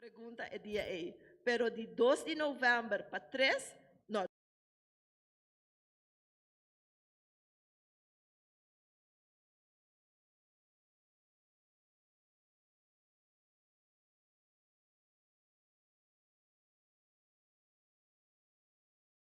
pregunta e dia ei, pero di dos di november pa tres, no.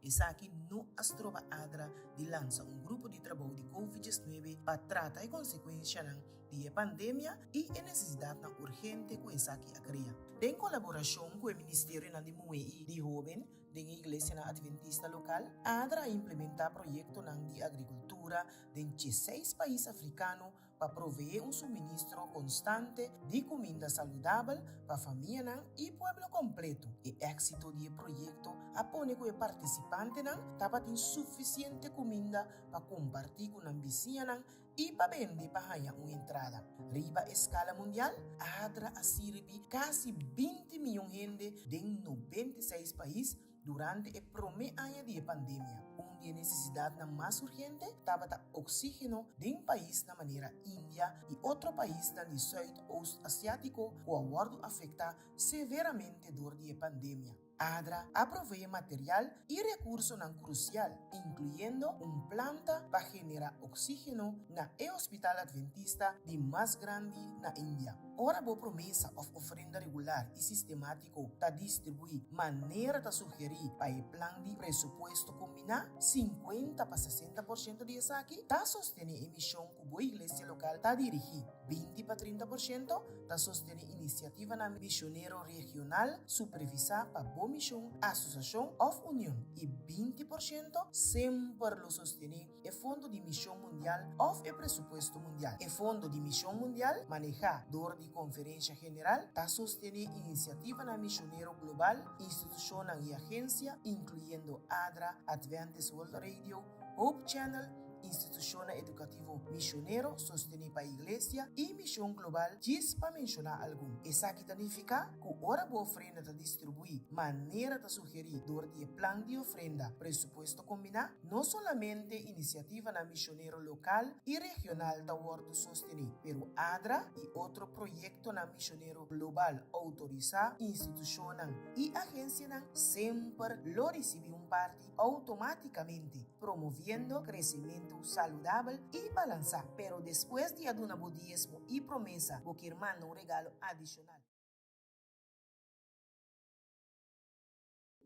Esaki no a stroba Adra di lansa un grupo di trabou di Covid diesnuebe pa trata e konsekuenshanan di e pandemia i e nesesidatnan urgente ku esaki a krea. Den kolaborashon ku e Ministerionan di Muhé i di Hóben den e iglesianan adventista lokal, Adra a implementá proyektonan di agrikultura den dieseis pais afrikano, pa proveé un suministro konstante di kuminda saludabel pa famianan i pueblo kompletu. E éksito di e proyekto a pone ku e partisipantenan tabatin sufisiente kuminda pa kompartí ku nan bisiñanan i pa bende pa haña un entrada. Riba e skala mundial, ADRA a sirbi kasi binti mion hende den nobenta i seis pais, Durante e promé aña di e pandemia, un di e nesesidatnan mas urgente tabata oksígeno den pais na manera India i otro paisnan di Sùit-Oost Asiátiko ku a wòrdu afektá severamente dor di e pandemia. ADRA a proveé material i rekursonan krusial, inkluyendo un planta pa generá oksígeno na e hospital adventista di mas grandi na India. Ora bo promesa òf ofrenda regular i sistemátiku, Ku ta distribuí manera ta sugerí pa e plan di presupuesto kombiná, sinkuenta pa sesenta por shento di esaki ta sostené e mishon ku bo iglesia lokal ta dirigí, binti pa trinta por shento ta sostené inisiativanan mishonero regional supervisá pa bo mishon, asosiashon òf union, i binti por shento semper lo sostené e fondo di Mision Mundial of e presupuesto mundial. E fondo di Mision Mundial, manehá dor di Conferencia General, ta sostené iniciativanan misionero global, institucionnan i agencia, incluyendo adra, Adventist World Radio, Hope Channel, institucionnan educativo misionero sostené pa iglesia, i mision global, djis pa mencioná algun. Esaki ta nificá cu ora bo ofrenda ta distribuí manera ta sugerí dor di e plan di ofrenda Presupuesto Combiná, No solamente inisiativanan mishonero lokal i regional ta wòrdu sostené, pero adra i otro proyektonan mishonero global outorisá, institushonnan i agensianan semper lo risibí un parti outomátikamente, promoviendo kresementu saludabel i balansá. Pero despues di a duna bo diesmo i promesa, bo kier manda un regalo adishonal.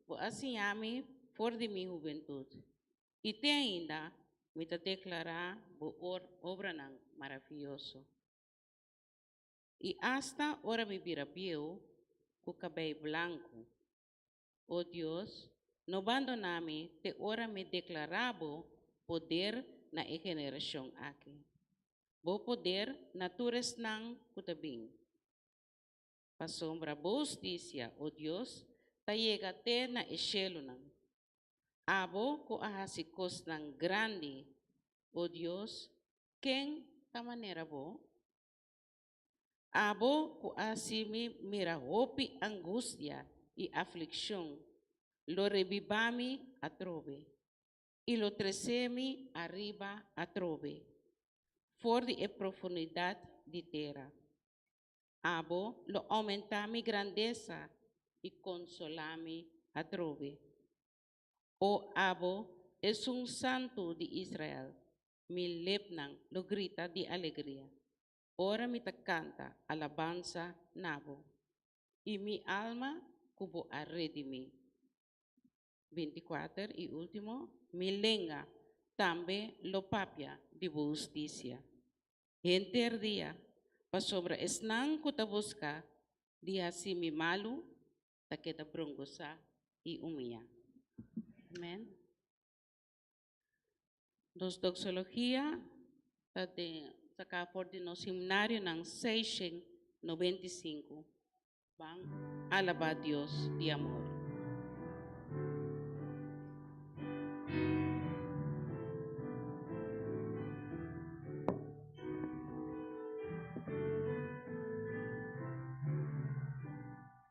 Bo a siña mi for di mi hubentud, i te ainda mi ta deklará bo obranan maravioso. I asta ora mi bira bieu ku kabei blanku, o Dios, no bandoná mi te ora mi deklará bo poder na e generashon aki, bo poder na tur esnan ku ta bin. Pasobra bo husticia, O Dios, ta yega te na e shelunan. Abo cu a haci cosnan grandi, O Dios, ken ta manera bo? Abo cu a haci mi mira hopi angustia i afliccion, lo rebiba mi atrobe, i lo trece mi ariba atrobe, for di e profundidad di tera. Abo lo oumentá mi grandesa i konsolá mi atrobe. O abo, esun Santu di Israel, mi lepnan lo grita di alegria ora mi ta kanta alabansa na bo, i mi alma ku bo a redimí. Bintikwater i último, Mi lenga tambe lo papia di bo hustisia henter dia, pasobra esnan ku ta buska di hasi mi malu ta keda brongosá i umiá. Amèn. Nos doxologia ta den saka for di nos himnarionan seishen nobenta i sinku, Ban alabá Dios di amor.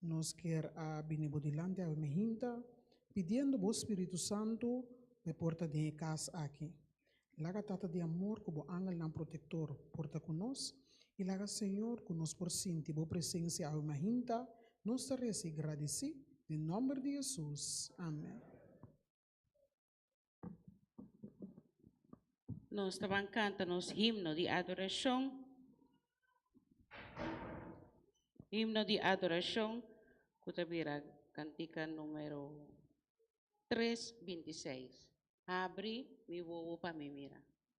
Nos kier a bini bo dilanti awe mi hinta, pidiendo bo Spiritu Santu pa e porta den e cas aki. Laga Tata di amor cu bo angelnan protector porta cu nos, y laga Señor cu nos por sinti bo presencia awe mi hinta, nos ta reza y gradici den nomber di Jesus. Amen. Nos ta ban canta nos himno di adoracion. Himno di adoracion cu ta bira cantica numero 3, 26. Habri mi wowo pa mi mira.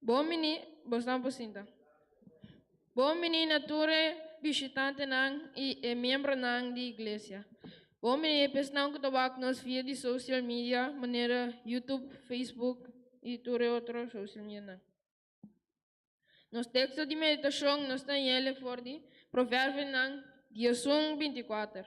Bon bini, bosnan por sinta. Bon bini na tur e bishitantenan i e miembronan di Iglesia. Bon bini e pesnan ku ta wak nos via di social media manera YouTube, Facebook i tur e otro social medianan. Nos teksto di meditashon nos ta yele for di Proverbionan diezun binti kuater.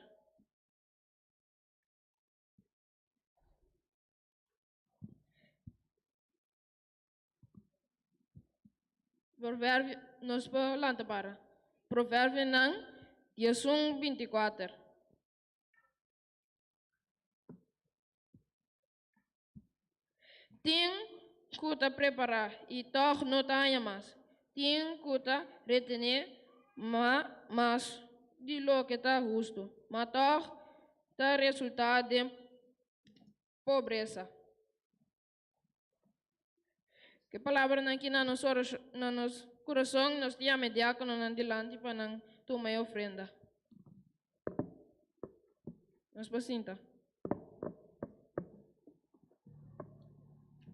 Proverbio, nos por lanta para. Proverbionan diezun binti kuater. Tin ku ta prepará i tòg no ta haña mas. Tin ku ta retené mas di loke ta hustu, ma tòg ta resultá den pobresa. Ke palabranan ki na nos na nos kurason, nos di yama e diákononan dilanti pa nan tuma e ofrenda. Nos por sinta.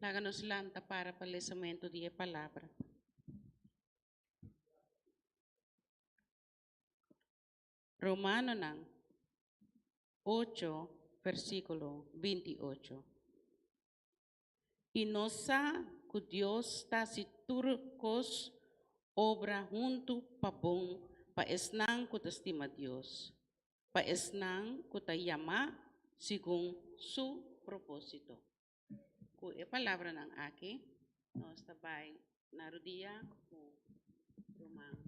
Laga nos lanta para pa lesamento di e Palabra. Romanonan ocho, versículo binti ocho. i nos sa ku Dios ta hasi tur kos obra huntu pa bon pa esnan ku ta stima Dios, pa esnan ku ta yamá segun su propósito. Ku e palabranan aki nos ta bai na rudia ku ruman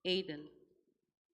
Eyden.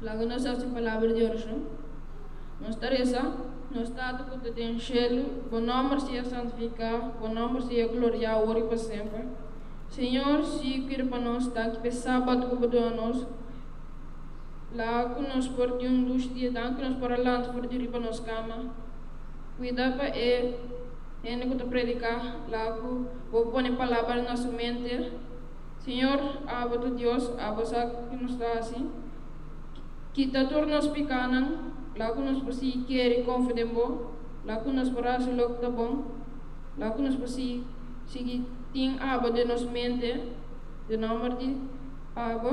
Laga nos hasi palabra di oracion. Nos ta reza, Nos Tata cu ta den cielo, bo nomber sea santifica, bo nomber sea gloria aor y pa semper. Señor, si u kere pa nos ta aki pa e sabato cu bo duna nos, La ku nos por tin un lus di edan ku nos por a lanta for di riba nos kama. Kuida pa e hende ku ta prediká. La ku bo pone palabra na su mente, Señor, abo ta Dios, abo sa ke nos ta hasi. Kita tur nos pikánan. La ku nos por sigui kere konfia den bo. La ku nos por hasi loke ta bon. La ku nos por sigui sigui tin abo den nos mente. Den nòmber di abo.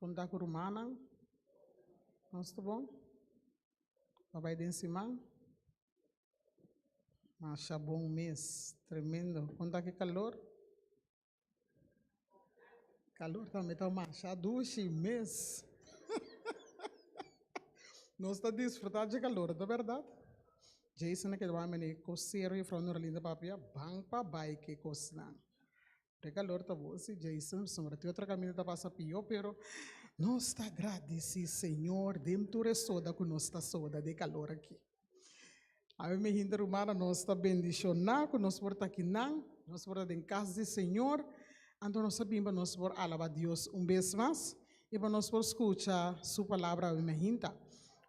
Punta ku rumannan, Nos ta bon? Pa bai den siman? Masha bon mes, tremendo. Kon ta ki kalor? Kalor tambe ta masha dushi mes. Nos ta disfrutá dje kalor, ta bèrdat? Jason a keda wak mene, Kos serio, Jufrou Norlinda papia? Ban pa bai ke kosnan. Te calor ta bosi, Jason, sombra ti otro camino ta pasa pio, pero nos ta agradeci, Señor, dem tur e soda cu nos ta soda de calor aki. Ave mi hinter humana, nos ta bendicioná cu nos por ta aquí nan, nos por ta den cas di Señor, anto nos a bimba nos por alaba Dios un bes mas. I pa nos por skucha Su Palabra oe Mehinta.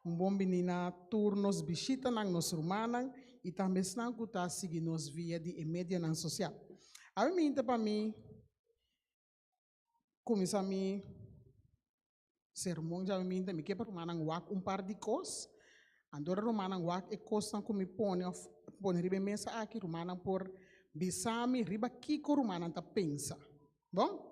Un bon bini na tur nos bishitanan, nos rumannan i tambe esnan ku ta sigui nos via di e medianan sosial. Oe Mehinta pa mi kuminsá mi sermon dje oe Mehinta mi ke pa rumannan wak un par di kos. Antora rumannan wak e kosnan ku mi pone òf pone riba e mesa aki, rumannan por bisa mi riba kiko rumannan ta pensa. Bon?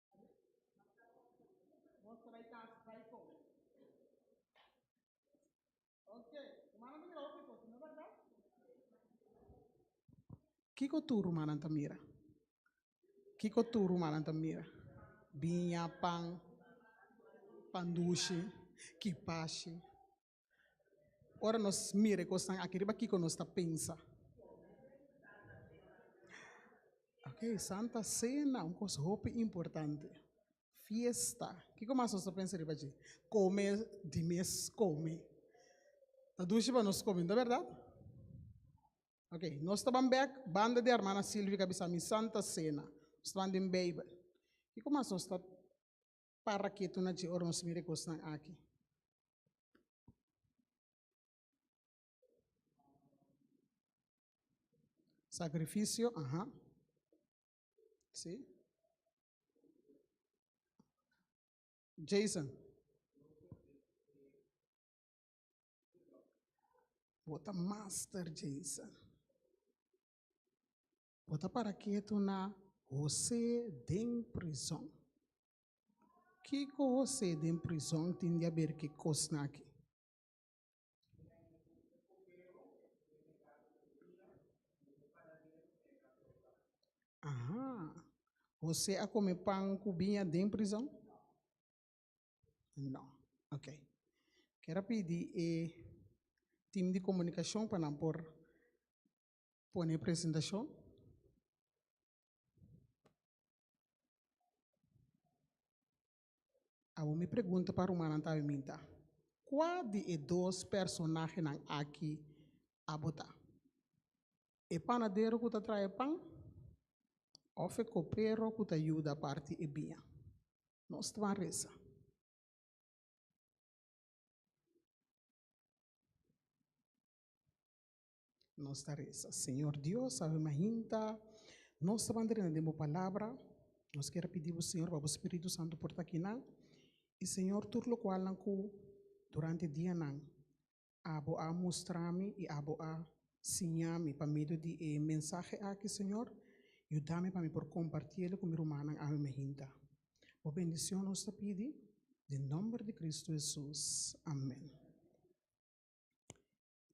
Kiko tur rumannan ta mira? Kiko tur rumannan ta mira? Biña, pan, pan dushi, kipashi. Ora nos mira e kosnan aki riba, kiko nos ta pensa? Ok, Santa Sena, un kos hopi importante. Fiesta, kiko mas nos ta pensa riba dje? Kome di mes kome. Ta dushi pa nos kome, nto berdad? Ok, nos ta ban bek, banda di Hermana Silvia ta bisa mi Santa Sena, nos ta ban den Bijbel. Kiko mas nos ta para ketu na dje ora nos mira e kosnan aki. Sacrificio, aha. Sí. Jason. Bota master Jason. Bo ta para ketu na José den prizòn. Kiko José den prizòn tin di haber ki kosnan akí? Ahaa. José a kome pan ku biña den prizòn? No. Ok. Ker a pidi e tim di komunikashon pa nan por Pone e presentacion. Awor mi pregunta pa rumannan ta biminta, Cua di e dos personahenan aki abo ta? E panadero cu ta trae pan of e copero cu ta yuda parti e biña? Nos ta ban resa. Nos ta resa, Señor Dios, ave ma hinta nos ta bandrina den bo palabra. Nos ker pidi bo, Señor, pa bo Spiritu Santo por ta kinan. I Señor, tur lokualnan ku durante e dianan abo a mustra mi i abo a siña mi pa medio di e mensahe aki, Señor, yuda mi pa mi por kompartí e ku mi rumannan ave ma hinta. Bo bendishon nos ta pidi den nomber di Kristu Hesus. Amen.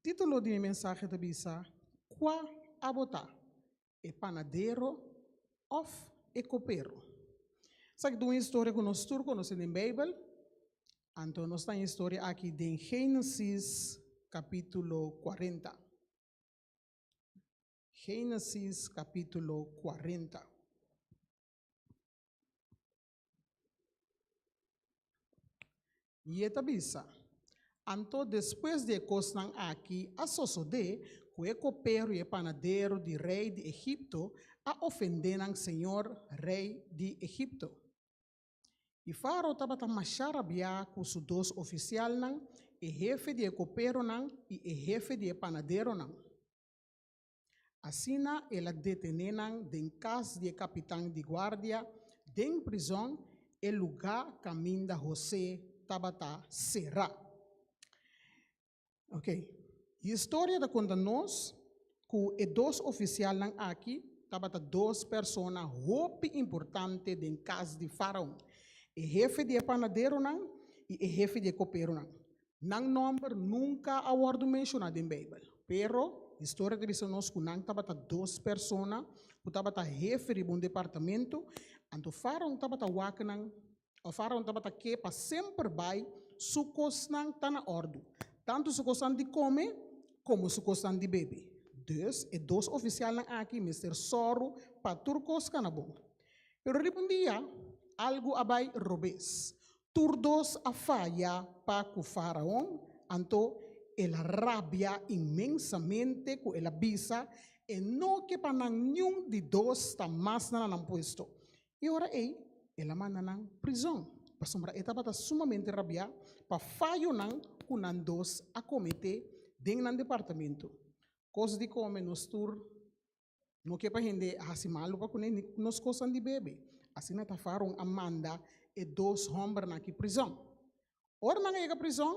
Título di mi mensahe ta bisa, Kua Abo Ta, E Panadero Òf E Kopero? Esaki ta un historia ku nos tur konosé den Beibel. Anto nos ta e historia aki den Génesis kapítulo kuarenta. Génesis kapítulo kuarenta. I e ta bisa, Anto despues di e kosnan akí a sosodé ku e kopero i e panaderu di rei di Egipto a ofendé nan señor, rei di Egipto. I Faro tabata masha rabiá ku su dos ofisialnan, e hefe di e koperonan i e hefe di e panaderonan. Asina el a detené nan den kas di e kapitan di guardia den prizòn, e lugá kaminda José tabata será. Oke, e historia ta konta nos ku e dos ofisialnan akí tabata dos persona hopi importante den kas di Faraon, e hefe di e panaderonan i e hefe di e koperonan. Nan nòmber nunka a wòrdu menshoná den Beibel. Pero, historia ta bisa nos ku nan tabata dos persona ku tabata hefe riba un departamentu. Anto Faraon tabata wak nan, òf Faraon tabata ke pa semper bai su kosnan ta na òrdu, tantu su kosnan di kome komo su kosnan di bebe. Dus, e dos ofisialnan aki mester sòru pa tur kos kana bon. Pero riba un dia, algu a bai robes. Tur dos a faya pa ku Faraon, anto el a rabia inmensamente ku el a bisa e no ke pa nan niun di dos sta mas na nan puesto. E ora ei el a manda nan prizon, pasobra e tabata sumamente rabiá pa fayonan ku nan dos a kometé den nan departamentu. Kos di kome nos tur No ke pa hende a hasi malu pa kuné ni ku nos kosanan di bebe. Asina ta Faraon a manda e dos hòmbernan ki prizòn. Ora nan a yega prizòn,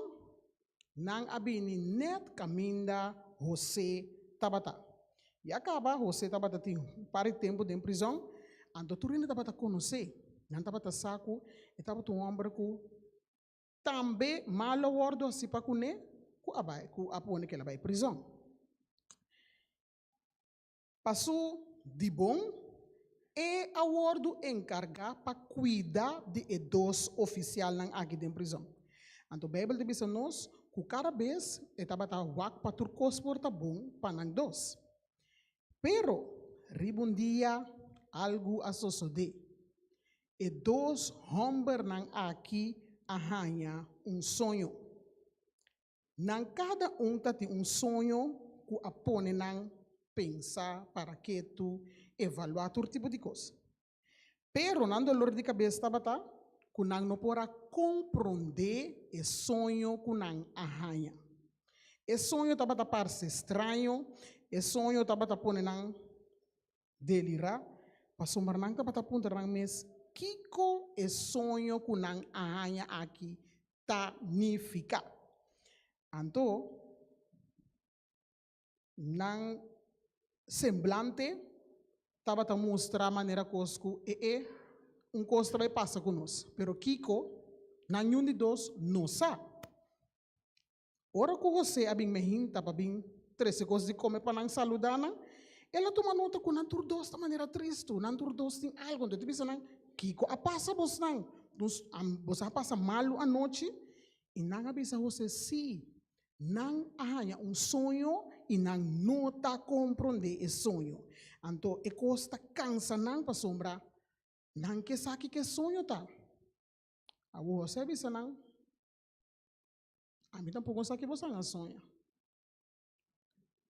nan a bini nèt kaminda José tabata. I a kaba José tabata tin un par di tempu den prizòn, anto tur hende tabata konos'é. Nan tabata sa ku e tabata un hòmber ku tambe malu a wòrdu hasi pa kuné ku a bai ku a pone kela bai prizòn. Pa su dibon, e a wordu enkargá pa kuida di e dos ofisialnan aki den prizòn. Anto Beibel ta bisa nos ku kada bes e tabata wak pa tur kos por ta bon pa nan dos. Pero, riba un dia algu a sosodé. E dos hòmbernan aki a haña un soño. Nan kada un ta tin un soño ku a pone nan pensa, para ketu, evaluá tur tipo di kos. Pero nan dolor di kabes tabata ku nan no por a komprondé e soño ku nan a haña. E soño tabata parse straño, e soño tabata pone nan delirá pasobra nan tabata puntra nan mes kiko e soño ku nan a haña aki ta nifiká. Anto nan semblante tabata mustra manera kos ku e e un kos ta bai pasa ku nos, pero kiko? Nan yun di dos no sa. Ora ku José a bin mehinta pa bin trese kos di kome pa nan saludá nan, el a tuma nota ku nan tur dos ta manera tristu, nan tur dos tin algu. Entonces, e bisa nan, Kiko a pasa bosnan? Nos a, bosan a pasa malu anochi? I nan a bisa José, Sí, nan a haña un soño i nan no ta komprondé e soño. Anto e kos ta kansa nan pasobra nan ke sa kiko e soño ta. Awor José a bisa nan, A mi tampoco no sa que boso a soña.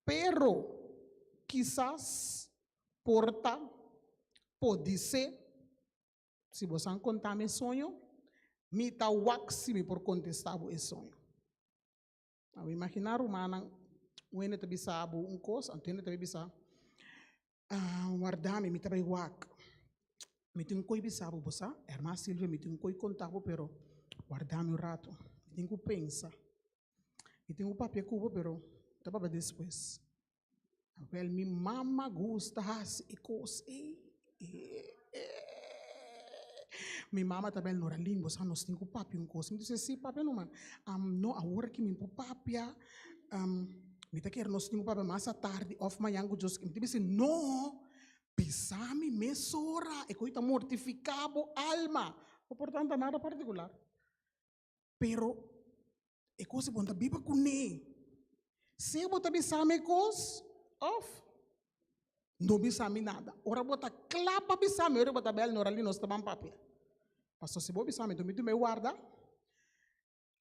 Pero quizás por ta, podi ser, si boso a conta mi soño, mi ta wak si mi por contesta bo e soño. A imagina rumannan, wende ta bisa bo un cos, anto hende ta bisa, Ah, warda mi, mi ta bai wak. Mi tin un koi bisa bo, bo sa, herma Silvia, mi tin un koi konta bo, pero warda mi un rato. Mi tin ku pensa. Mi tin ku papia ku bo, pero ta papia despues. Wel, mi mama gusta hasi e kos ei. Mi mama ta bel, Noralin, bo sa nos tin ku papia un kos. Mi di, si, si, papia nomas. Am, no, awor aki mi por papia. mi ta kere nos tin un papia mas atardi of mañan ku Dios. Mi ta bisa, no! Bisa mi mes ora, e kos ei ta mortifiká bo alma. No por tanta nada partikular, pero e kos ei bo ta biba kuné. Sea bo ta bisa mi e kos òf no bisa mi nada. Ora bo ta kla pa bisa mi, ora bo ta bel, no, nos ta ban papia. Pastor, si bo bisa mi, enton mi duna e warda.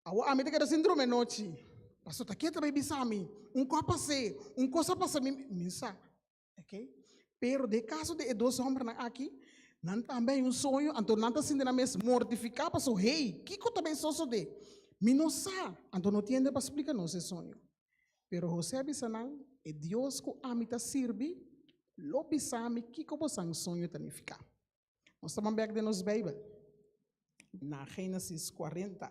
Awo ami ta keda sin drome nochi. Pastor ta kiet bay bisa mi. Un kos pasé, un cosa pasé mi, mi sa. Ok? Pero de caso de e dos hombernan aki, nan tambe hay un soño, anto nan ta sinti nan mes mortifica paso hey, kiko ta bay sosode? Mi no sa, anto no tiende pa splica nos e soño. Pero José a bisa nan, e Dios cu ami ta sirbi lo bisa mi kiko bosan soño ta nifica. Nos ta ban bek den nos Bijbel na Génesis 40.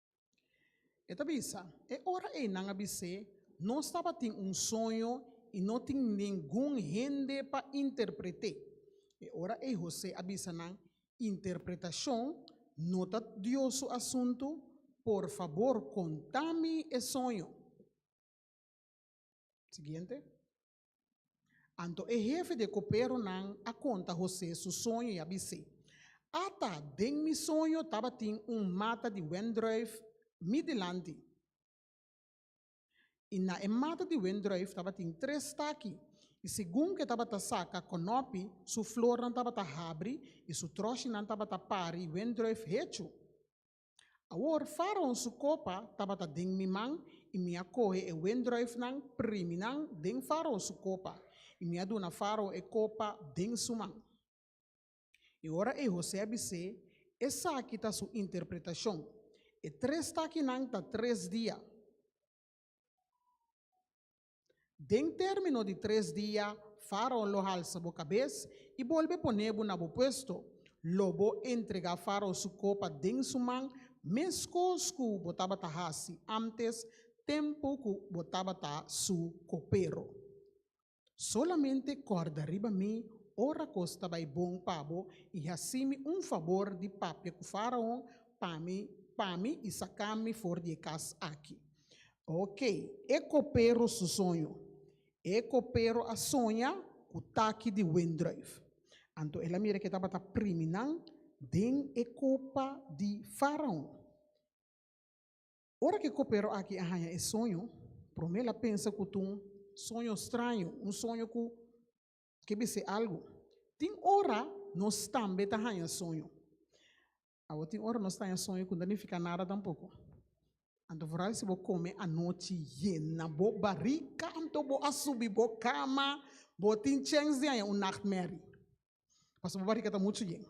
E ta bisa, E ora einan a bis'é, nos tabatin un soño i no tin ningun hende pa interpret'é. E ora ei José a bisa nan, Interpretashon no ta Dios su asuntu, por fabor konta mi e soño. Siguiente. Anto e hefe di e koperonan a konta Hosé su soño i a bis'é, Ata den mi soño tabatin un mata di wendrùif mi dilanti, i na e mata di wendrùif tabatin tres taki, i segun ku e tabata saka konòpi, su flornan tabata habri i su tròshinan tabata pari wendrùif hechu. Awor, Faraon su kopa tabata den mi man, i mi a kohe e wendruifnan, primi nan den Faraon su kopa, i mi a duna Faraon e kopa den su man. E ora ei Hosé a bis'é, Esaki ta su interpretashon, E tres takinan ta tres dia. Den término di tres dia, Faraon lo halsa bo kabes i bolbe pone bo na bo puesto. Lo bo entregá Faraon su kopa den su man, meskos ku bo tabata hasi ántes, tempu ku bo tabata su kopero. Solamente kòrda riba mi ora kos ta bai bon pa bo i hasi mi un fabor di papia ku Faraon pa mi pa mi i saka mi for di e kas akí. Ok, e copero su soño. E copero a soña cu taki di windruif. Anto el a mira ke tabata priminan den e copa di Faraon. Ora ke copero aki a haña e soño, prome el a pensa cu t'un soño straño, un soño cu ke bis'é algu. Tin ora nos tambe ta haña soño. Awo tin ora nos taña soño ku no ta nifiká nada tampoko. Anto vooral si bo kome anochi yena bo barika, anto bo a subi bo kama, bo tin chèns di haña un nachtmerrie, pasobra bo barika ta muchu yen.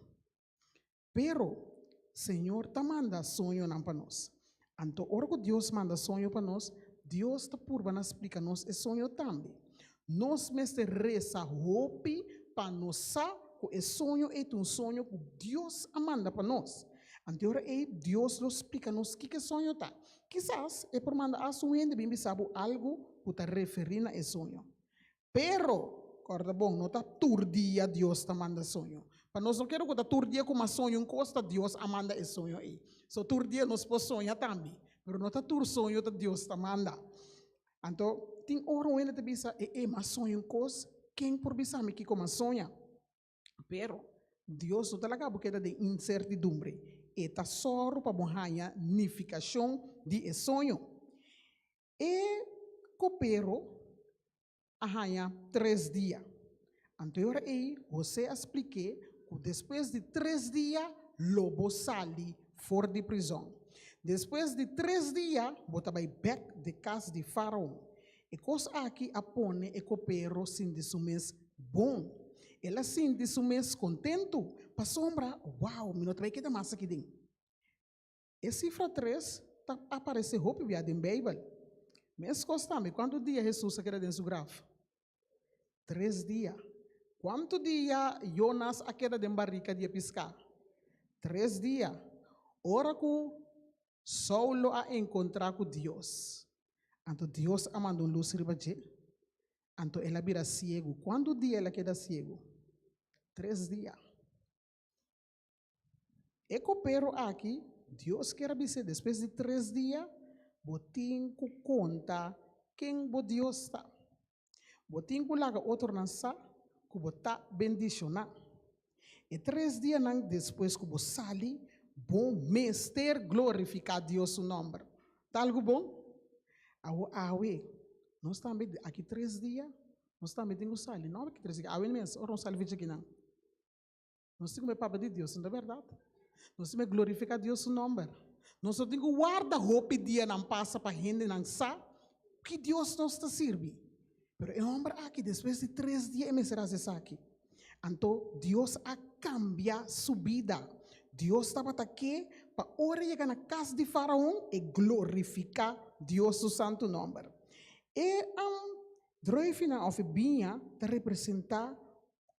Pero, Señor ta manda soñonan pa nos. Anto ora ku Dios manda soño pa nos, Dios ta purbanan splika nos e soño tambe. Nos mester resa hopi pa nos sa ku e soño ei ta un soño ku Dios a manda pa nos. Anto ora ei, Dios lo splika nos kiko e soño ta. Kisas e por manda as un hende bin bisa bo algu ku ta referí na e soño. Pero, kòrda bon, no ta tur dia Dios ta manda soño. Pa nos no keda ku ta tur dia ku mas soño un kos, ta Dios a manda e soño ei. So, tur dia nos por soña tambe, pero no ta tur soño ta Dios ta manda. Anto, tin ora un hende ta bisa, E e, m'a soña un kos, ken por bisa mi kiko m'a soña? Pero, Dios no ta laga bo keda den insertidumbre. E ta sòru pa bo haña nifikashon di e soño. E kopero a haña tres dia. Anto e ora ei, José a splik'é ku despues di tres dia lo bo sali for di prizòn. Despues di tres dia bo ta bai bèk den kas di Faraon. E kos aki a pone e kopero sinti su mes bon. El a sinti su mes kontentu, pasobra, Wou, mi no ta bai keda mas aki den. E sifra tres ta aparesé hopi bia den Beibel. Meskos tambe, kuantu dia Hesus a keda den su graf? Tres dia. Kuantu dia Yonas a keda den barika di e piská? Tres dia. Ora ku Saulo a enkontrá ku Dios, anto Dios a manda un lus riba dje, anto el a bira siegu. Kuantu dia el a keda siegu? Tres dia. E kopero aki, Dios kier a bis'é, despues di tres dia, bo tin ku konta ken bo Dios ta. Bo tin ku laga otronan sa ku bo ta bendishoná. E tres dianan despues ku bo sali, bo mester glorifiká Dios su nòmber. Ta algu bon? Awor, awe nos tambe, aki tres dia, nos tambe tin ku sali, no? Awe mes, ora nos sali fecha kinan. Nos tin ku e papia di Dios no ta berdad. Nos tin me glorifiká Dios su nòmber. Nos no tin ku warda hopi dianan pasa pa hendenan sa ku ki Dios nos ta sirbi. Pero e hòmber akí despues di tres dia e mester hasi esaki. Anto Dios a kambia su bida. Dios tabata ke pa ora e yega na kas di Faraon e glorifiká Dios su santu nòmber. E andròifinan òf e biña ta representá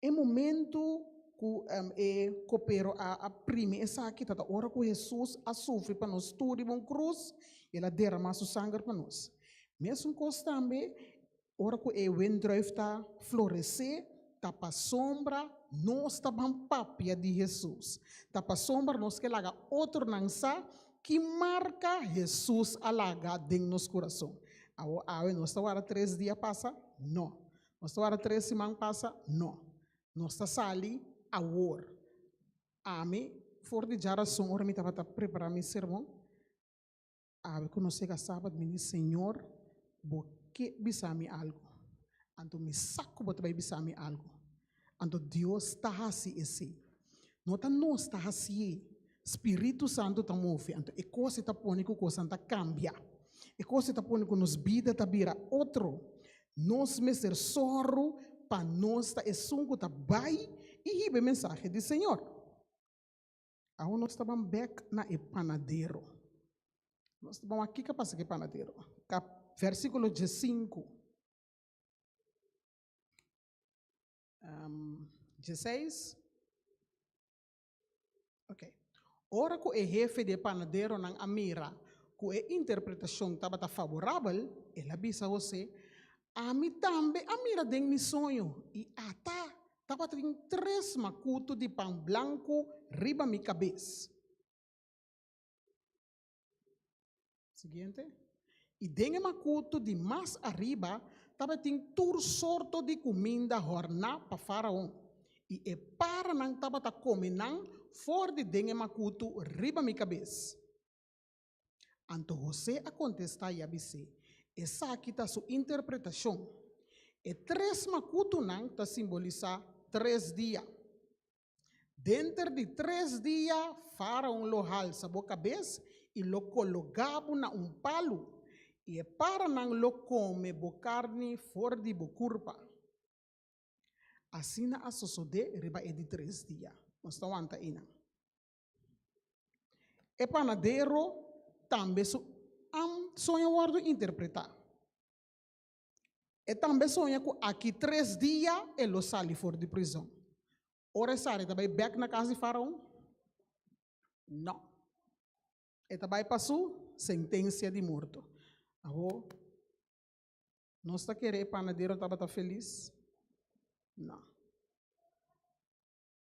E momentu ku e kopero a aprimi esaki ta ta ora ku Hesus a sufri pa nos tur riba un krus i el a deramá su sanger pa nos. Mesun kos tambe ora ku e wendrùif ta floresé, ta pasobra nos ta ban papia di Hesus. Ta pasobra nos ke laga otronan sa ki marka Hesus a laga den nos kurason. Awe nos ta wardá tres dia pasa? Nò. Nos ta wara tres siman pasa? No. Nos ta sali awor. Ami, for di dja rason, ora mi tabata prepara mi sermon, a ku nos yega Sabat, mi di, Señor, Bo ke bisa mi algu. Anto mi sa ku Bo ta bai bisa mi algu. Anto Dios ta hasi esei. No ta nos ta hasi'e. Spiritu Santu ta move. Anto e kos ei ta pone ku kosnan ta kambia. E kos ei ta pone ku nos bida ta bira otro. Nos mester sòru pa nos ta esun ku ta bai i hiba e mensahe di Señor. Awo nos ta ban bèk na e panadero. Nos ta ban wak kiko a pasa ku e panadero. Kap. Vèrsikulo diesinku, dieseis. Oke. Ora ku e hefe di e panaderonan a mira ku e interpretashon tabata faborabel, el a bisa Hosé, Ami tambe a mira den mi soño, i ata tabatin tres makutu di pan blanku riba mi kabes. Siguiente. I den e makutu di mas ariba tabatin tur sorto di kuminda hòrná pa Faraon, i e paranan tabata kome nan for di den e makutu riba mi kabes. Anto José a kontestá i a bis'é, Esaki ta su interpretashon. E tres makutunan ta simbolisá tres dia. Denter di tres dia Faraon lo halsa bo kabes i lo kologá bo na un palu, i e paranan lo kome bo karni for di bo kurpa. Asina a sosodé riba e di tres dia. Nos ta wanta einan. E panadero tambe su am soño wòrdu interpretá. E tambe soña ku aki tres dia e lo sali for di prizon. Ora e sali, e ta bai bèk na kas di Faraon? Nò. E ta bai pa su sentensia di morto. Awo, nos ta kere e panadero tabata felis? Nò.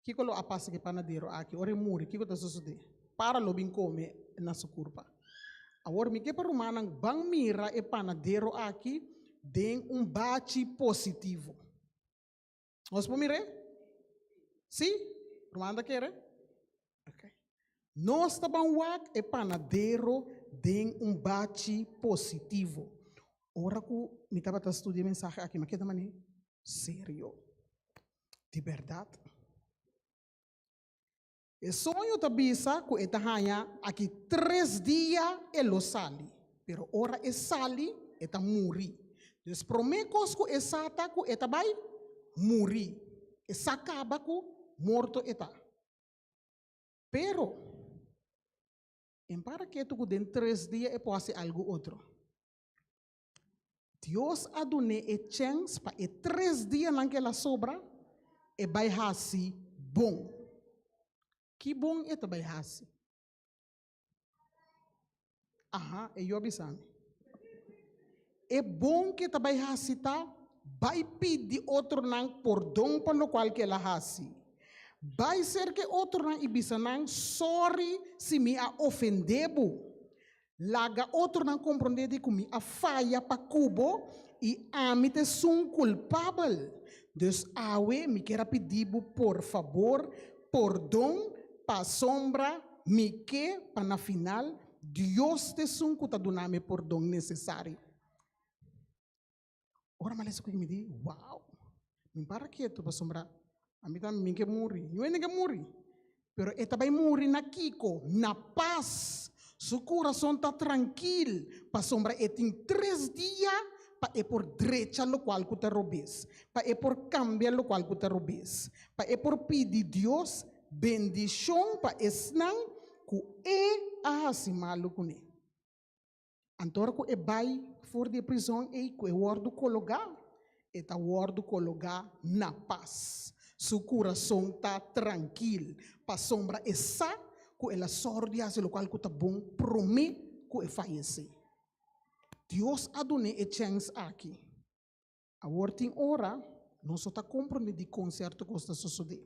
Kiko lo a pasa ku e panadero aki? Ora e muri, kiko ta sosodé? Para lo bin kome na su kurpa. Awor mi ke pa rumannan ban mira e panadero aki den un bachi positivo. Nos por mir'é? Sí? Rumannan ta kere? Ok. Nos ta ban wak e panadero den un bachi positivo. Ora ku mi tabata studia e mensahe aki mi a keda mané serio. Di bèrdat, e soño ta bisa ku e ta haña aki tres dia e lo sali, pero ora e sali e ta muri. Dus promé kos ku e sa ta ku e ta bai muri. E sa kaba ku morto e ta. Pero, e para ketu ku den tres dia e por hasi algu otro. Dios a dun'é e chèns pa e tres dianan k'el a sobra e bai hasi bon. Ki bon e ta bai hasi? Aha, e yo a bisa mi. E bon k'e ta bai hasi ta bai pidi otronan pordon pa lokual k'el a hasi. Bai serka e otronan i bisa nan, Sòri si mi a ofendé bo. Laga otronan komprondé di ku mi a faya pa ku bo i ami ta esun un kulpabel. Dus awe mi kier a pidi bo por fabor, pordon, pasobra mi ke pa na final Dios ta esun ku ta duna mi e pordon nesesario. Ora malen esaki mi di, wow, mi para ketu pasobra ami tambe mi ke muri. Yo hende ke muri, pero e ta bai muri na kiko? Na pas. Su kurason ta trankil pasobra e tin tres dia pa e por drecha lokual ku ta robes, pa e por kambia lokual ku ta robes, pa e por pidi Dios bendishon pa esnan ku e a hasi malu kuné. Antora ku e bai for di e prizòn ei ku e wòrdu kologá, e ta wòrdu kologá na pas. Su kurason ta trankil, pasobra e sa ku el a sòru di hasi lokual ku ta bon promé ku e fayesé. Dios a dun'é e chèns aki. Awor tin ora nos lo ta comprende dicon cierto cos ta sosode.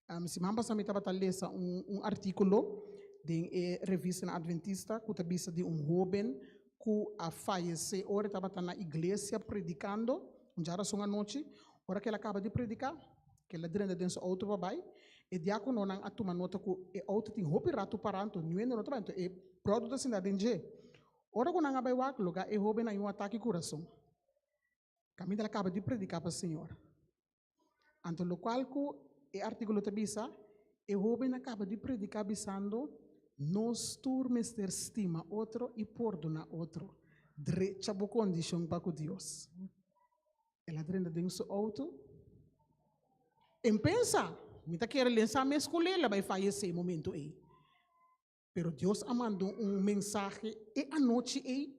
Um, siman pasa mi tabata lesa un, un articulo den e revista na Adventista cu ta bisa di un hoben cu a fayece ora e tabata na iglesia predicando, un dja rason anochi. Ora que el a caba di predica, que el a drenda den su auto pa bay, e diacononan a tuma nota cu e auto tin hopi rato para, anto niue no ta bay, anto e brother ta sinda den dje. Ora cu nan a bay wak, lo ga e hoben a yu un ataque curason. Caminda la caba di predica pa Señor. Anto lo cual cu e artículo ta bisa, e joven a caba di predica bisando, nos tur mester stima otro y pordona otro. Drecha bo condicion pa cu Dios. El a drenta den su auto. En pensa, mi ta kere lensa mi escuela, bay fallece momento ey. Pero Dios a manda un mensahe e anochi ei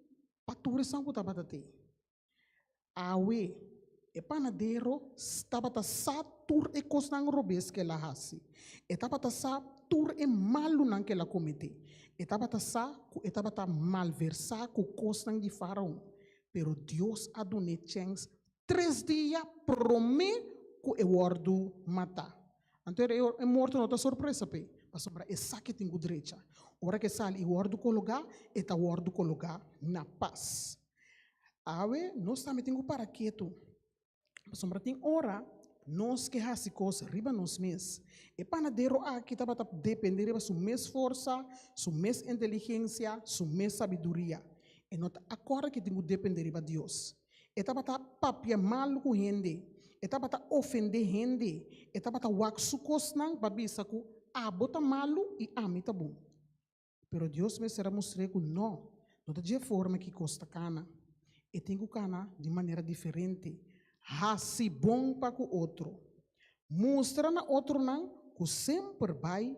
pa tur esnan cu tabata tei. Awe, e panadero tabata sa tur e cosnan robes cu el a haci. E tabata sa tur e malunan cu el a comete. E tabata sa cu e tabata malversa cu cosnan di Faraon. Pero Dios a dun'e chens tres dia prome cu e wordo mata. Anto e e morto no ta sorpresa p'e, pasobra esaki tin ku drecha. Ora ku e sali i wòrdu kologá, e ta wòrdu kologá na pas. Awe, nos tambe tin ku para ketu, pasobra tin ora nos ke hasi kos riba nos mes. E panadero aki tabata dependé riba su mes forsa, su mes inteligensia, su mes sabiduria. E no ta akorda ku e tin ku dependé riba Dios. E tabata papia mal ku hende, e tabata ofendé hende, e tabata wak su kosnan pa bisa ku abo ta malu i ami ta bon. Pero Dios mester a mustr'é ku nò, no ta dje forma ki kos ta kana. E tin ku kana di manera diferente, hasi bon pa ku otro. Mustra na otronan ku semper bai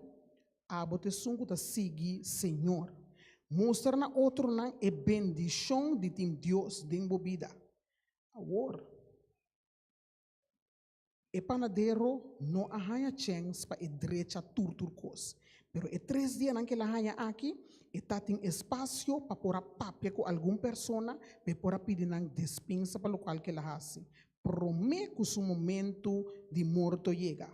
Abo ta esun ku ta sigui Señor. Mustra na otronan e bendishon di tin Dios den bo bida. Awor, e panadero no a haña chèns pa e drecha tur tur kos. Pero e tres dianan ku el a haña aki, e ta tin espasio pa por a papia ku algun persona pa e por a pidi nan despinsa pa lokual ku el a hasi promé ku su momentu di morto yega.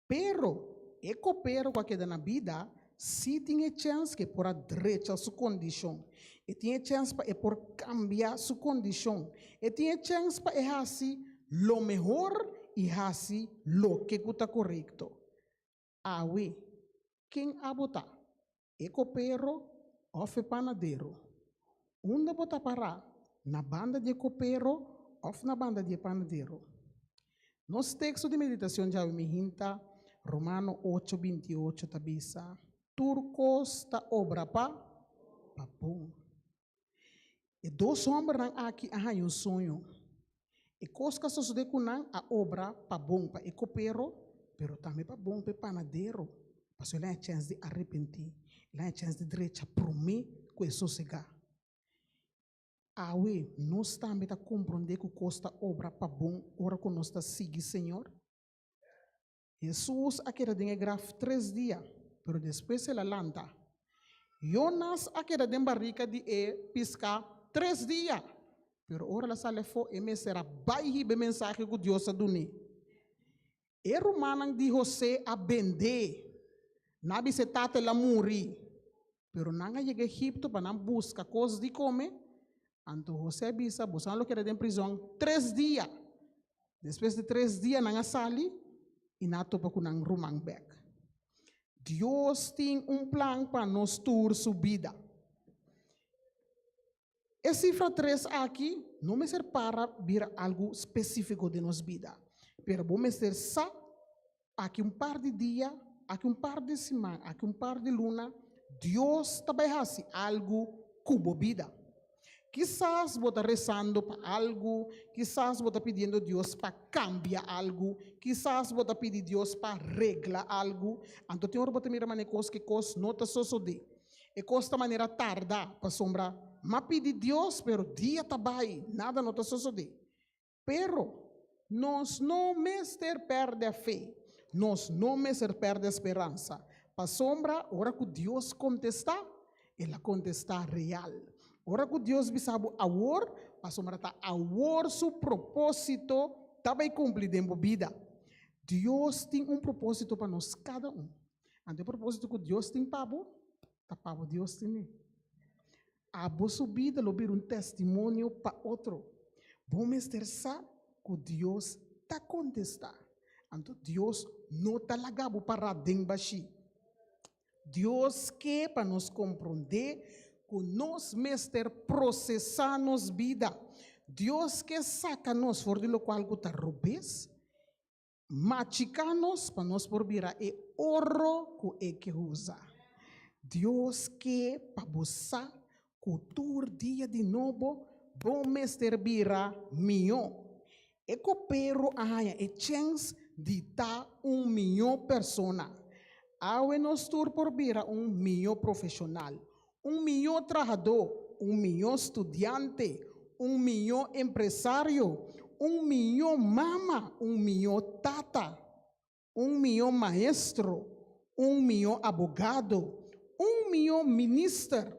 Pero, e kopero ku a keda na bida sí tin e chèns ku e por a drecha su kondishon. E tin e chèns pa e por kambia su kondishon. E tin e chèns pa e hasi lo mehor i hasi loke ku ta korekto. Awe, ken abo ta? e kopero òf e panadero. Unda bo ta pará, na banda di e kopero òf na banda di e panadero? Nos teksto di meditashon djawe mihin ta Romano ocho binti i ocho ta bisa, Tur kos ta obra pa pa bon. E dos hòmbernan aki a haña un suño. E kos ku a sosodé ku nan a obra pa bon pa e kopero, pero tambe pa bon pa e panadero, pasobra el a haña chèns di arepentí, el a haña chèns di drecha promé ku e sosegá. Awe nos tambe ta komprondé ku kos ta obra pa bon ora ku nos ta sigui Señor? Hesus a keda den e graf tres dia, pero despues el a lanta. Yonas a keda den barika di e piská tres dia, pero ora el a sali afó, e mester a bai hiba e mensahe ku Dios a dun'é. E rumannan di José a bend'é na bisa e tata el a muri. Pero nan a yega Egipto pa nan buska kos di kome, anto José bisa, Boso a lo keda den prizòn tres dia. Despues di tres dia nan a sali i nan a topa ku nan ruman bèk. Dios tin un plan pa nos tur su bida. E sifra tres aki no mester para bira algu spesífiko den nos bida, pero bo mester sa aki un par di dia, aki un par di siman, aki un par di luna, Dios ta bai hasi algu ku bo bida. Kisas bo ta resando pa algu, kisas bo ta pidiendo Dios pa kambia algu, kisas bo ta pidi Dios pa regla algu, anto tin ora bo ta mira manera kos ke kos no ta sosodé. E cos ta manera tarda, pasobra m'a pidi Dios, pero dia ta bai, nada no ta sosode. Pero, nos no mester perde fe, nos no mester perde speransa, pasobra ora cu Dios contesta, el a contesta real. Ora cu Dios bisa bo awor, pasobra ta awor su proposito ta bai cumpli den bo bida. Dios tin un proposito pa nos cada un. Anto e propósito ku Dios tin pa bo, ta pa bo Dios tin e. Abo su bida lo bira un testimonio pa otro. Bo mester sa ku Dios ta kontestá. Anto Dios no ta laga bo pará den bashí. Dios ke pa nos komprondé ku nos mester prosesá nos bida. Dios ke saka nos for di lokual ku ta robes Machika nos pa nos por bira e oro ku E ke usa. Dios ke pa bo sa ku tur dia di nobo bo mester bira mihó. E kopero a haña e chèns di ta un mihó persona. Awe nos tur por bira un mihó profeshonal, Un mió trahadó, un mió studiante, un mió empresario, un mió mama, un mió tata, un mió maestro, un mió abogado, un mió minister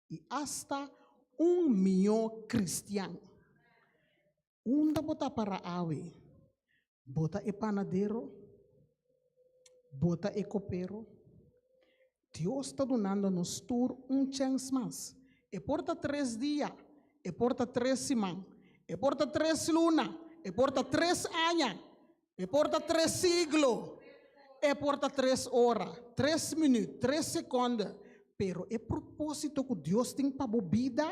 i asta un mió kristian. Unda bo ta para awe? Bo ta e panadero? Bo ta e kopero? Dios ta dunando nos tur un chèns mas. E por ta tres dia, e por ta tres siman, e por ta tres luna, e por ta tres aña, E por ta tres siglo, e por ta tres ora, tres minuut, tres sekonde, pero e propósito ku Dios tin pa bo bida,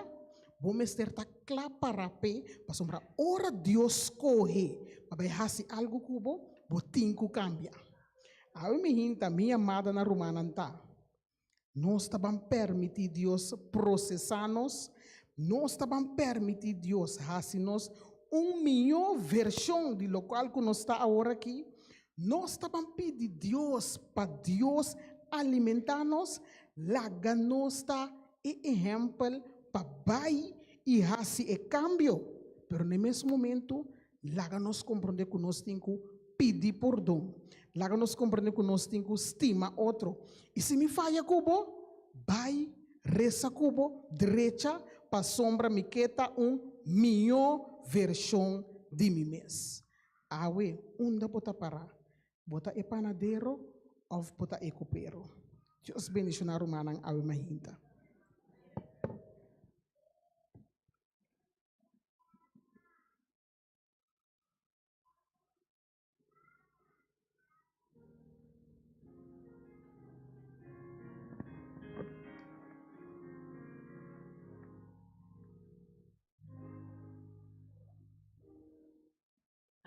bo mester ta kla para p'e, pasobra ora Dios skohe pa bai hasi algu ku bo, bo tin ku kambia. Awe mi hinta, mi amadonan rumannan, ta. Nos ta ban permití Dios prosesá nos. Nos ta ban permití Dios hasi nos un mihó vershon di lokual ku nos ta awor akí. Nos ta ban pidi Dios pa Dios alimentá nos. Laga nos ta e ehèmpel pa bai i hasi e kambio. Pero na e mes momentu Laga nos komprende ku nos tin ku pidi pordon. Laga nos komprende ku nos tin ku stima otro. I si mi faya ku bo? Bai resa ku bo drecha pasobra mi ke ta un mihó vershon di mi mes. Awe, unda bo ta pará? Bo ta e panadero òf bo ta e kopero? Dios bendishoná rumannan awe majinta.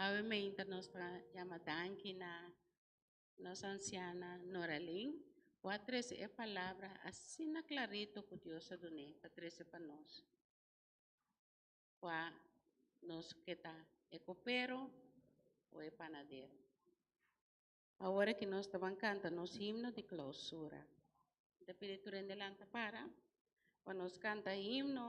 Awe mainta nos ta yama danki na nos anciana Noralyn cu a trece e palabra asina clarito cu Dios a dun'e pa trece pa nos. kua nos ke ta e kopero o e panadero. Awor aki nos ta ban kanta nos himno di klausura. Mi ta pidi tur hende lanta para pa nos kanta himno.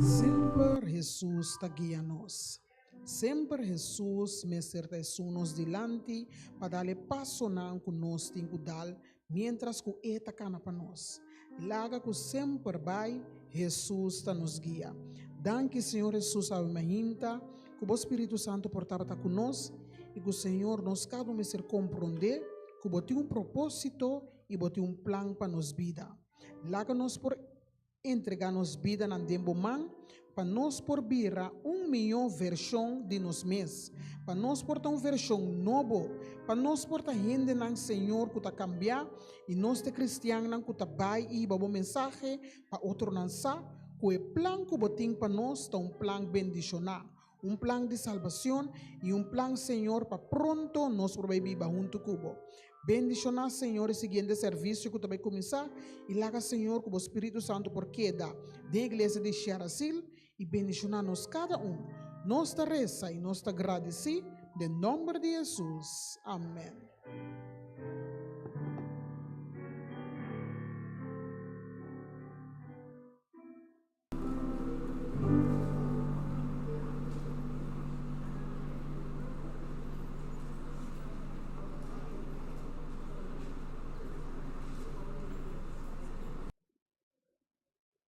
Semper Hesus ta guia nos. Semper Hesus mester ta esun nos dilanti pa dal e pasonan ku nos tin ku dal miéntras ku E ta kana pa nos. Laga ku semper bai Hesus ta nos guia. Danki Señor Hesus Ave Mahinta. ku bo Spiritu Santu por tabata ku nos i ku Señor nos kada un mester komprondé ku bo tin un propósito i bo tin un plan pa nos bida. Laga nos por entregá nos bidanan den bo man pa nos por bira un mihó vershon di nos mes, pa nos por ta un vershon nobo, pa nos por ta hendenan Señor ku ta kambiá i nos ta kristiannan ku ta bai i hiba bo mensahe Pa otronan sa ku e plan ku bo tin pa nos ta un plan bendishoná, un plan di salbashon i un plan, Señor, pa pronto nos por bai biba huntu ku bo. Bendishoná, Señor, e siguiente servisio ku ta bai kuminsá, i laga, Señor, ku bo Spiritu Santu por keda den e iglesia di Sharasil, i bendishoná nos kada un. Nos ta resa i nos ta gradisí den nòmber di Hesus. Amèn.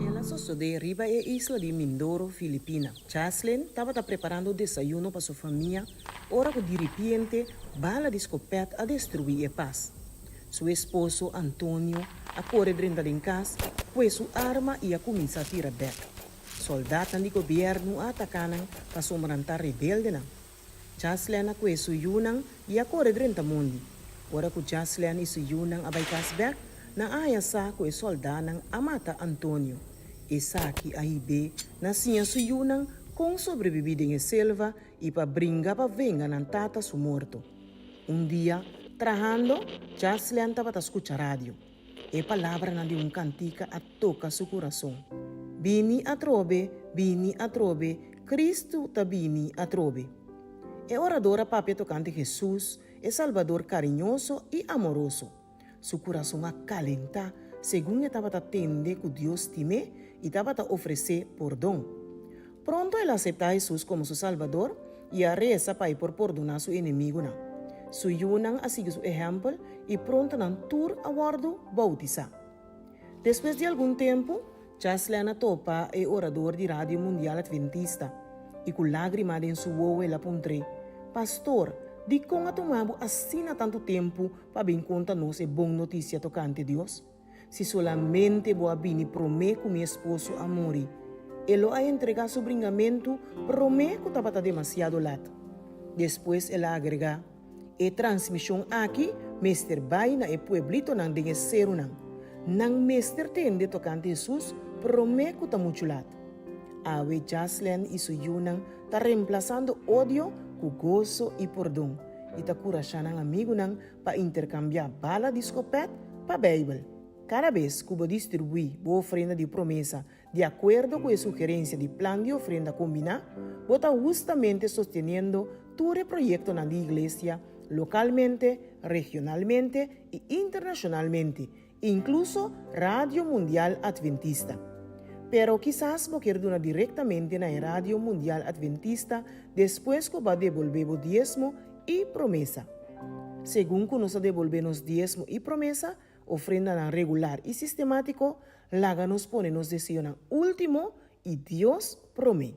El a sosodé riba e isla di Mindoro, Filipina. Chaslin tabata preparando desayuno pa su famia ora ku diripiente bala di skopèt a destruí e pas. Su esposo, Antonio, a kore drenta den kas, pue su arma i a kuminsá tira bèk. Soldatnan di gobièrnu a ataká nan pasobra nan ta rebeldenan. Jaslèn a kue su yunan i a kore drenta mondi. Ora ku Jaslèn i su yunan a bai kas bèk, nan a haña sa ku e sòldánan a mata Antonio. Esaki a hib'é na siña su yunan kon sobrebibí den e selva i pa bringa pa venga nan tata su morto. Un dia, trahando, Jaslèn tabata skucha radio. E palabranan di un kantika a toka su kurason, Bini atrobe, bini atrobe, Kristu ta bini atrobe. E orador a papia tokante Hesus, e Salbador kariñoso i amoroso. Su kurason a kalentá segun e tabata tende ku Dios tim'é i tabata ofresé pordon. Pronto el a aseptá Hesus komo su Salbador i a resa pa e por pordoná su enemigunan. Su yunan a sigui su ehèmpel i pronto nan tur a wòrdu boutisá. Despues di algun tempu, Cheslin a topa e orador di Radio Mundial Adventista, i ku lágrima den su wowo el a puntr'é, Pastor, dikon a tuma bo asina tantu tempu pa bin konta nos e bon notisia tokante Dios? Si solamente bo a bini promé ku mi esposo a muri, e lo a entregá su bringamentu promé ku tabata demasiado lat. Despues el a agregá, E transmishon aki mester bai na e pueblitonan den e serunan. Nan mester tende tokante Hesus promé ku ta muchu lat. Awe Jasleen i su yunan ta remplasando odio ku goso i pordon, i ta kurashá nan amigunan pa interkambiá bala di skopèt pa Beibel. Kada bes ku bo distribuí bo ofrenda di promesa di akuerdo ku e sugerensia di plan di ofrenda kombiná, bo ta hustamente sosteniendo tur e proyektonan di Iglesia, lokalmente, regionalmente i internashonalmente, Incluso Radio Mundial Adventista. Pero kisas bo kier duna directamente na e Radio Mundial Adventista despues cu bo a debolbe bo diezmo y promesa. Segun cu nos a debolbe nos diezmo y promesa, ofrendanan regular y sistematico, laga nos pone nos deseonan ultimo y Dios prome.